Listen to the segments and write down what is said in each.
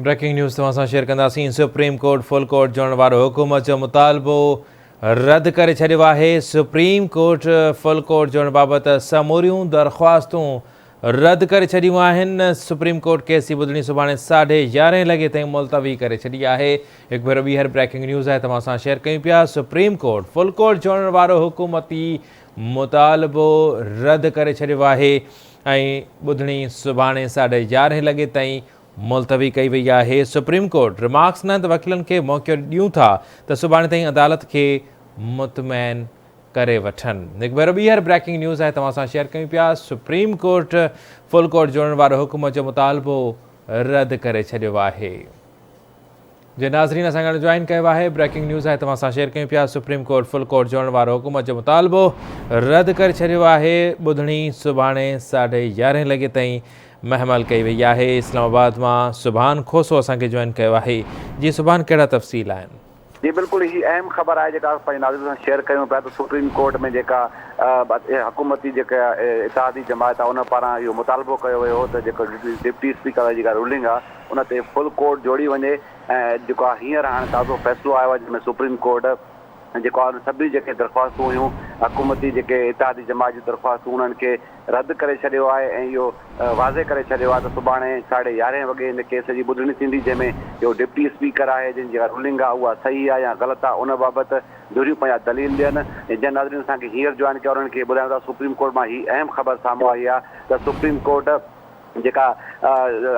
Breaking news توهان سان share ڪنداسين سپريم ڪورٽ فل ڪورٽ جوڙڻ وارو حڪومت جو مطالبو رد ڪري ڇڏيو آهي سپريم ڪورٽ فل ڪورٽ جوڙڻ بابت سموريون درخواستون رد ڪري ڇڏيون آهن سپريم ڪورٽ ڪيس جي ٻڌڻي سڀاڻي ساڍي يارهين لڳي تائين ملتوي ڪري ڇڏي آهي هڪ ڀيرو ٻيهر بريڪنگ نيوز آهي توهان سان شيئر ڪيون پيا سپريم ڪورٽ فل ڪورٽ جوڙڻ وارو حڪومتي مطالبو رد ڪري ڇڏيو آهي ۽ ٻڌڻي سڀاڻي ساڍي يارهين لڳي تائين ملتوي ڪئي وئي آهي، سپريم ڪورٽ رمارڪس نه ته وڪيلن کي موقعو ڏيون ٿا ته سڀاڻي تائين عدالت کي مطمئن ڪري وٺن. هڪ ڀيرو ٻيهر بريڪنگ نيوز آهي توهان سان شيئر ڪيون پيا، سپريم ڪورٽ فل ڪورٽ جوڙڻ وارو حڪم جو مطالبو رد ڪري ڇڏيو آهي. جي ناظرين اسان گڏ جوائن ڪيو آهي بريڪنگ نيوز آهي توهان سان شيئر ڪيون پيا سپريم ڪورٽ فل ڪورٽ جوڙڻ وارو حڪومت جو مطالبو رد ڪري ڇڏيو آهي ٻڌڻي سڀاڻي ساڍي يارهين لڳي تائين محمل ڪئي وئي آهي اسلام آباد مان سبحان کوسو اسان کي جوائن ڪيو آهي جي سبحان ڪهڙا تفصيل آهن. جي بلڪل هي اهم خبر آهي جيڪا اسان پنهنجي ناظرين سان شيئر ڪيون پيا ته سپريم ڪورٽ ۾ جيڪا حڪومتي جيڪا اتحادي جماعت آهي ان پاران اهو مطالبو ڪيو ويو هو ته جيڪو ڊپٽي اسپيڪر جيڪا رولنگ آهي ان تي فل ڪورٽ جوڙي وڃي ۽ جيڪو آ هينئر هاڻي تازو فيصلو آيو آ جنهن ۾ سپريم ڪورٽ جيڪو آ سڀني جيڪي درخواستون هيون حڪومتي جيڪي اتحادي جماعت جون درخواستون انهن کي رد ڪري ڇڏيو آهي ۽ اهو واضح ڪري ڇڏيو آ ته سڀاڻي ساڍي يارهين وڳي ان ڪيس جي ٻڌڻي ٿيندي جنهن ۾ جيڪو ڊپٽي اسپيڪر آهي جن جيڪا رولنگ آ اها صحيح آ يا غلط آ ان بابت ڌريون پنهنجا دليل ڏين جن ناظرين اسان کي هينئر جوائن ڪيو آ انهن کي ٻڌايون ٿا سپريم ڪورٽ مان هي اهم خبر سامهون آئي آ ته سپريم ڪورٽ جيڪا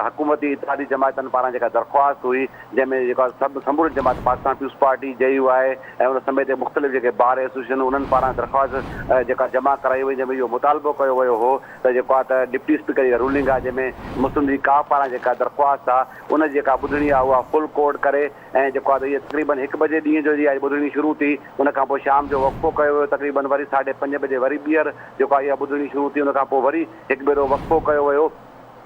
حڪومتي اتحادي جماعتن پاران جيڪا درخواست هئي، جنهن ۾ جيڪا سڀ سمورين جماعتن Pakistan peoples party, J U I ۽ ان سميت مختلف جيڪي بار ايسوسيئيشنون انهن پاران درخواست جيڪا جمع ڪرائي وئي جنهن ۾ اهو مطالبو ڪيو ويو هو ته جيڪو آ ته ڊپٽي اسپيڪر جيڪا رولنگ آ جنهن ۾ مسلم ليگ ڪاف پاران جيڪا درخواست آ ان جي جيڪا ٻڌڻي آ اها فل ڪورٽ ڪري ۽ جيڪو آ ته اهي تقريبن هڪ بجي ڏينهن جو جي آ ٻڌڻي شروع ٿي ان کان پوء شام جو وقفو ڪيو ويو تقريبن وري ساڍي پنج بجي وري ٻيهر جيڪو آ اها ٻڌڻي شروع ٿي ان کان پوء وري هڪ ڀيرو وقفو ڪيو ويو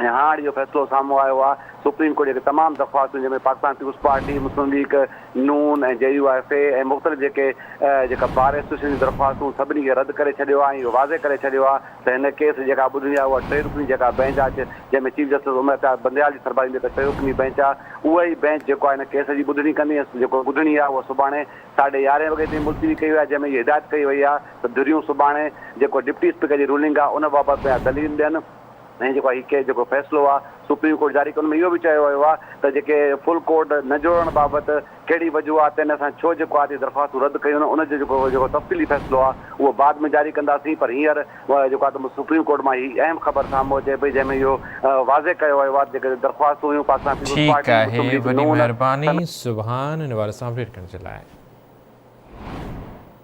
۽ هاڻ اهو فيصلو سامهون آيو آهي، سپريم ڪورٽ جي اڳ تمام درخواستون جنهن ۾ Pakistan peoples party, Muslim league Noon ۽ J U F A ۽ مختلف جيڪي جيڪا بار ايسوسيئيشن جون درخواستون سڀني کي رد ڪري ڇڏيو آهي ۽ اهو واضح ڪري ڇڏيو آهي ته هن ڪيس جيڪا ٻڌڻي آهي اها ٽي رڪني جيڪا بئنچ آهي جنهن ۾ چيف جسٽس عمر اختيار بنديال جي سربراهي ۾ جيڪا ٽي رڪني بئنچ آهي اها ئي بئنچ جيڪو آهي هن ڪيس جي ٻڌڻي ڪندي ۽ جيڪو ٻڌڻي آهي اها سڀاڻي ساڍي يارهين وڳي تائين ملتوي ڪئي وئي آهي جنهن ۾ اهي هدايت ڪئي وئي آهي ته ڌريون سڀاڻي جيڪو ڊپٽي اسپيڪر جي رولنگ آ ان بابت پنهنجا دليل ڏين ۽ جيڪو هي ڪيس جيڪو فيصلو آ سپريم ڪورٽ جاري ڪيو ان ۾ اهو به چيو ويو آ ته جيڪي فل ڪورٽ نه جوڙڻ بابت ڪهڙي وجوهات آهن اسان ڇو جيڪو آ درخواستون رد ڪيون آهن ان جو جيڪو جيڪو تفصيلي فيصلو آ اهو بعد ۾ جاري ڪنداسين پر هينئر جيڪو آ ته سپريم ڪورٽ مان هي اهم خبر سامهون اچي پئي جنهن ۾ اهو واضح ڪيو ويو آ ته جيڪي درخواستون هيون پاڪستان پيپلز ٺيڪ پارٽي آهي، مسلم ليگ وڏي نون مهرباني سبحان ان باري سان اپڊيٽ ڪرڻ جي لاء.